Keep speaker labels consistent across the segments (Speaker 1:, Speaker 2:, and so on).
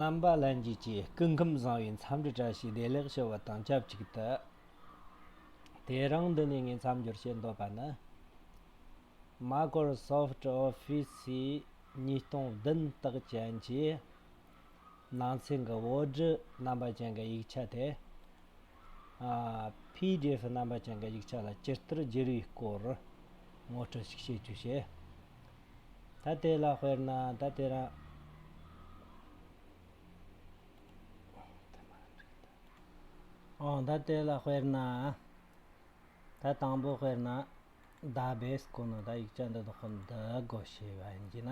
Speaker 1: རྣམ་པ་ལྷན་སྐྱེས་ཀྱི་སྐུ་ཁམས་བཟང་བའི་མཚམས་འདྲི་བཀྲ་ཤིས་བདེ་ལེགས་ཞུ་བ་དང་ཆབས་ཅིག་ཏུ། དེ་རིང་འདི་ནས་ངས་མཚམས་སྦྱོར་བྱེད་འདོད་པ་ནི། Microsoft Office ཉིས་སྟོང་བདུན་དག་ཅན་གྱི་ནང་ཚན་གྱི་བོད་བསྒྲུ་རྣམ་པ་ཅན་གྱི་ཡིག་ཆ་དེ། PDF རྣམ་པ་ཅན་གྱི་ཡིག་ཆ་ལ་ཇི་ལྟར་བསྒྱུར་བའི་སྐོར་ངོ་སྤྲོད་ཞིག་བྱེད་རྒྱུ་བྱས། ད་དེ་ལ་དཔེར་ན་ད་དེ་རང། ཨོ་ད་དེ་ལ་དཔེར་ན། ད་དང་པོ་དཔེར་ན། ད་བས་སྐོར་ན་ད་ཡིག་ཆ་འདི་དག་གམ་འདི་དགོ་ཞེས་པ་ཡིན་གྱི་ན།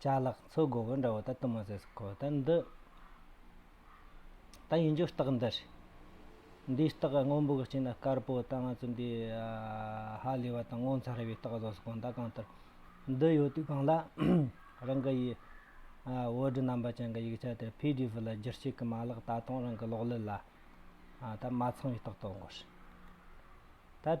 Speaker 1: ལྕགས་ལག་མཚོ་དགོ་བོ་འདྲ་བོ་ད་དུ་མ་ཟེར་སྲིད་ཁོ་ད་འདི། ད་ཡིན་རྒྱུ་རྟགས་འདི་རེད། འདིའི་རྟགས་སྔོན་པོ་གི་སྤྱི་ན་དཀར་པོ་ད་ང་ཚོ་འདི། ཧ་ལས་པ་དང་ངོ་མཚར་བའི་རྟགས་བཟོ་སྲིད་གོང་ད་གང་ལྟར། འདི་ཡོད་དུས་གང་ལ། རང་གི་ཡི། བོད་དྲི་རྣམ་པ་ཅན་གྱི་ཡིག་ཆ་དེར PDF ལ་བསྒྱུར་བྱེད་ཀྱི་མ་ལག་ད་དུང་རང་གི་གློག་ཀླད་ལ། ད་མ་ཚང་བའི་རྟགས་དོག་འགོ་རེད། ད།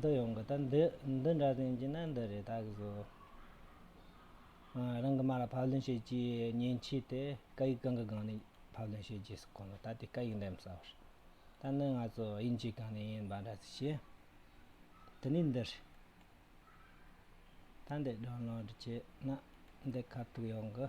Speaker 1: འདི་ཡོང་གི་ད་འདི་འདི་འདྲ་ཟིན་གྱི་ན་འདི་རེད་ད་གི་བཟོ། རང་གི་མ་ལ་ཕབ་ལེན་བྱེད་ཀྱི་ཉེན་མཁྱེན་དེ་སྐད་ཡིག་གང་གི་སྒང་ནས་ཕབ་ལེན་བྱེད་ཀྱི་སོགས་གོ་ནོ་ད་དེ་སྐད་ཡིག་འདེམས་ས་བར། ད་ནི་ང་ཚོ་དབྱིན་ཇིའི་སྒང་ནས་ཡིན་པ་འདྲ་ཟིག་བྱས། དེ་ནས་འདི་རེད། ད་འདི་སྒྲོན་ལོག་འདྲི་བྱེད་ན་འདི་ཁ་ཐུག་ཡོང་གི།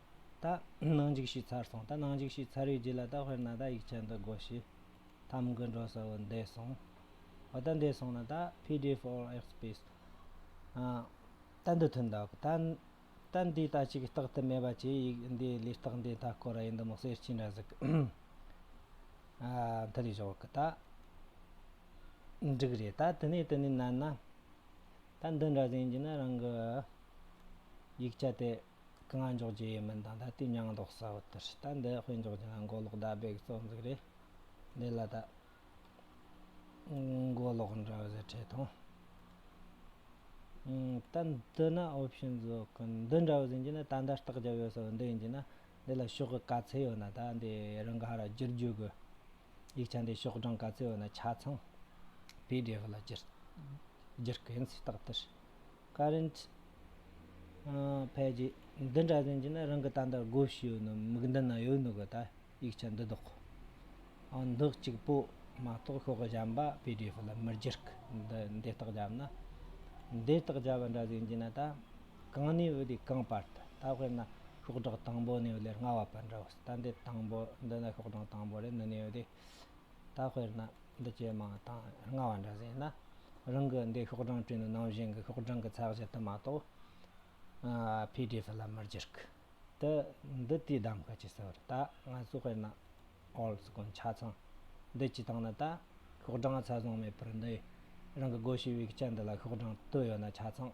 Speaker 1: ད་ནང་འཇིགས་བྱེད་ཚར་སོང་ད་ནང་འཇིགས་བྱེད་ཚར་བའི་རྗེས་ལ་ད་དཔེར་ན་ད་ཡིག་ཆ་འདི་དགོ་ཞེས་ཐམ་དགུ་འགྲོ་ས་བོ་འདས་སོང་བ་ད་འདས་སོང་ན་ད pdf or ཨེག་སྤེས་ད་འདི་ཐོན་ད་གོ་ད་ད་འདི་ད་ཅིག་རྟག་ཏུ་མེད་པ་ཅི་ཡིག་འདི་ལས་རྟག་འདི་མཐའ་སྐོར་ཡིན་འདི་མོ་གསེར་སྐྱིན་ར་ཟིག་མཐའ་རེ་བཞག་གི་ད་འགྲིག་རེད་ད་དེ་ནས་དེ་ནས་ན་ན་ད་འདི་འདྲ་ཟིན་རྒྱུ་ན་རང་གི་ཡིག་ཆ་དེ། གང་འཇོག་རྒྱུ་ཡིན་མིན་དང་ད་ལྟའི་མྱང་འདོགས་གསལ་བོ་ལྟར་ད་འདི་དཔེ་འཇོག་རྒྱུ་ན་མགོ་ལོག་ཟླ་འབེག་གཙོ་འཛུགས་རེད། འདི་ལ་ད་མགོ་ལོག་འདྲ་བ་ཟེར་འཕྲད་ཐོང། ད་འདི་ན option བཟོ་གི་འདི་འདྲ་བ་ཟིན་རྒྱུ་ན་ད་འདི་ལྟག་རྒྱབ་ཡོད་ཟེར་བ་འདི་ཡིན་རྒྱུ་ན་འདི་ལ་ཤོག་གི་ག་ཚད་ཡོད་ན་ད་འདི་རང་ག་ར་བསྒྱུར་རྒྱུ་དགོས། ཡིག་ཆ་འདི་ཤོག་གྲངས་ག་ཚད་ཡོད་ན་ཆ་ཚང pdf ལ་བསྒྱུར། བསྒྱུར་གི་ཡིན་སྲིད་རྟགས་དེར། Current། ཕལ་ཆེར་འདི་འདྲ་ཟིན་གྱི་ན་རང་གི་ད་ལྟར་བགོ་བཤའི་ཡོད་ནོ་མིག་མདུན་ན་ཡོད་ནོ་གི་ད་ཡིག་ཆ་འདི་ལྡོག་གོ། འདི་གཅིག་པོ་མ་གཏོགས་ཤོག་བཞམས་པ PDF ལ་མི་སྒྱུར་གི་འདི་འདི་ལྟག་བརྒྱབ་ན། འདི་ལྟག་བརྒྱབ་པ་འདྲ་ཟིན་གྱི་ན་ད་གང་ནས་བུད་དེ་གང་པར་ད་ད་དཔེར་ན་ཤོག་སྒྲག་དང་པོ་ནས་བུད་ལེར་སྔ་བ་པར་འདྲ་བོ་ཟེར་ད་འདི་དང་པོ་འདི་ན་ཤོག་སྒྲག་དང་པོ་རེད་འདི་ནས་བུད་དེ། ད་དཔེར་ན་འདི་ཇེ་མང་དང་སྔ་བ་འདྲ་བཟོས་ན། རང་གི་འདི་ཤོག་གྲངས་བྲིས་ནས་ནང་བཞིན་གྱི་ཤོག་གྲངས་ཀྱི་ཚགས་གཞི་དུ་མ་གཏོགས pdf ལ་མི་འགྱུར་གི། དེ་འདི་དུས་གདམ་ག་གྱིས་བཟོས་རེད་ད་ང་ཚོས་དཔེར་ན all སྐོར་ཆ་ཚང་འདི་གཅིག་བཏང་ན་ད་ཤོག་གྲངས་ཚ་བཟང་མེད་པར་འདི་རང་གི་སྒོ་ཕྱེ་བའི་སྐྱ་འདི་ལ་ཤོག་གྲངས་བསྟོད་ཡོད་ན་ཆ་ཚང།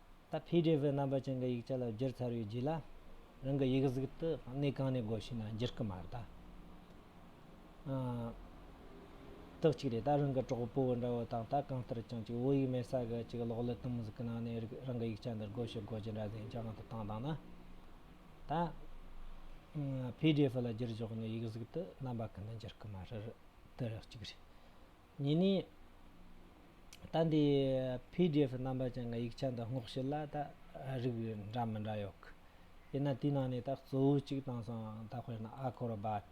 Speaker 1: ད pdf རྣམ་པ་ཅན་གྱི་ཡིག་ཆ་ལ་བསྒྱུར་ཚར་བའི་རྗེས་ལ། རང་གི་ཡིག་གཟུགས་དེ་གནས་གང་ནས་དགོས་ཤེ་ན་བསྒྱུར་གི་མ་རེད་ད། དག་ཅིག་རེད་ད་རང་གི་གྲོགས་པོ་འདྲ་བོ་དང་ད་གང་ལྟར་ཀྱང་ཅིག་བོད་ཡིག་མེད་ས་ག་ཅིག་གློག་ཀླད་དུམ་བུ་གི་ནང་ནས་རང་གི་ཡིག་ཆ་འདི་དགོས་ཤེ་དགོས་ཀྱི་འདྲ་ཟེར་རྒྱ་གང་དུ་བཏང་བཏང་ན། ད pdf ལ་བསྒྱུར་ཆོག་ནས་ཡིག་གཟུགས་དེ་རྣམ་པ་གང་ནས་བསྒྱུར་གི་མ་རེད་དེ་རག་ཅིག་རེད། གཉིས་ནི། ད་འདི PDF རྣམ་པ་ཅན་གྱི་ཡིག་ཆ་འདི་སྔོག་བཤེར་ལ་ད་རིགས་འདྲ་མི་འདྲ་ཡོད། དེས་ན་དེའི་ནང་ནས་ད་གཙོ་བོ་གཅིག་བཏང་སོང་ད་དཔེར་ན Acrobat།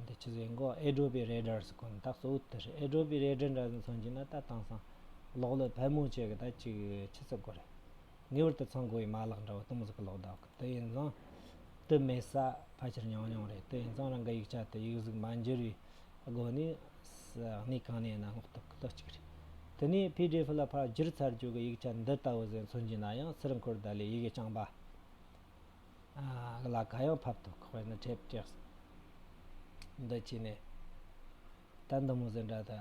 Speaker 1: འདི་ཆུ་ཟེར་འགོ Adobe Reader སུ་གོ་ན་ད་གཙོ་བོ་དེ་རེད Adobe Reader འདྲ་ཟིན་སོང་གྱིས་ན་ད་བཏང་སོང། གློག་ཀླད་ཕལ་མོ་ཆེ་གི་ད་གཅིག་ཆུ་ཚོད་དགུ་རེད། ངེས་པར་དུ་ཚང་དགོས་ཡིན་མ་ལག་འདྲ་བོ་སྟོང་གཟུགས་གློག་ལྡོག་གི་དེ་ཡིན་སོང། དུ་མེད་ས་ཕལ་ཆེར་ཉུང་ཉུང་རེད་དེ་ཡིན་སོང་རང་གི་ཡིག་ཆ་དེ་ཡིག་གཟུགས་མ་འགྱུར་བའི་སྒོ་ནས་གནས་གང་ནས་ན་སྔོག་ཐུབ་ཀི་ལོ་གཅིག་རེད། དེ་ནས PDF ལ་ཕར་བསྒྱུར་ཚར་རྒྱུ་གི་ཡིག་ཆ་འདི་ལྟ་བུ་ཟིག་མཚོན་གྱི་ན་ཡང་སིལ་འཁོར་དག་ལས་ཡི་གེ་རྐྱང་པ་ལ་ག་ཡང་ཕབ་ཐུབ་ཁག་པའི་ནི་དྲེད་བཀྲེགས་འདི་བྱས་ནས་ད་འདི་མོ་ཟིག་འདྲ་ད།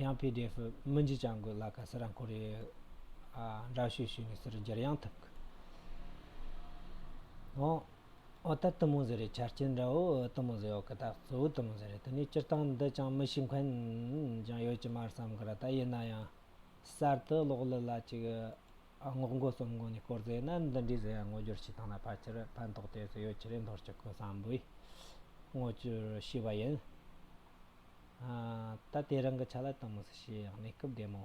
Speaker 1: ཡང PDF མི་འཇིགས་ཀྱང་དགོས་ལ་ག་ས་རང་ཁོ་རེའི་འདྲ་བཤུས་ཞུས་ནས་སུར་འགྱར་ཡང་ཐུབ་གི། ཨོ་ད་ཏི་མོ་ཟེར་རེད་ཆ་རྐྱེན་འདྲ་བོ་ཨོ་ཏི་མོ་ཟེར་ཡོད་གི་ད་གཙོ་བོ་ཏི་མོ་ཟེར་རེད་དེ་ནས་སྤྱིར་བཏང་འདི་ཅང་མི་ཤིས་འཁོན་ཀྱང་ཡོད་ཀྱི་མ་རེད་བསམ་གི་ར་ད་ཡིན་ན་ཡང་གསར་དུ་གློག་ཀླུ་ལ་ཅིག་སྔོག་འགོག་གསུམ་འགོག་ནས་སྐོར་རྫས་ནི་འདི་འདྲའི་ཟས་སྔོ་སྦྱོར་ཞིག་དང་ལ་ཕ་ཆེར་ཕན་ཐོགས་ཏེ་ཟས་ཡོ་བྱད་རིན་ཐོར་གྱི་ཁུངས་སམ་བུའི་སྔོ་སྐྱུར་ཞེས་པ་ཡིན། ད་དེ་རང་གི་ཆ་ལ་དང་མི་སྲིད་ཞེས་ཡང་གནས་སྐབས་བདེ་མོ།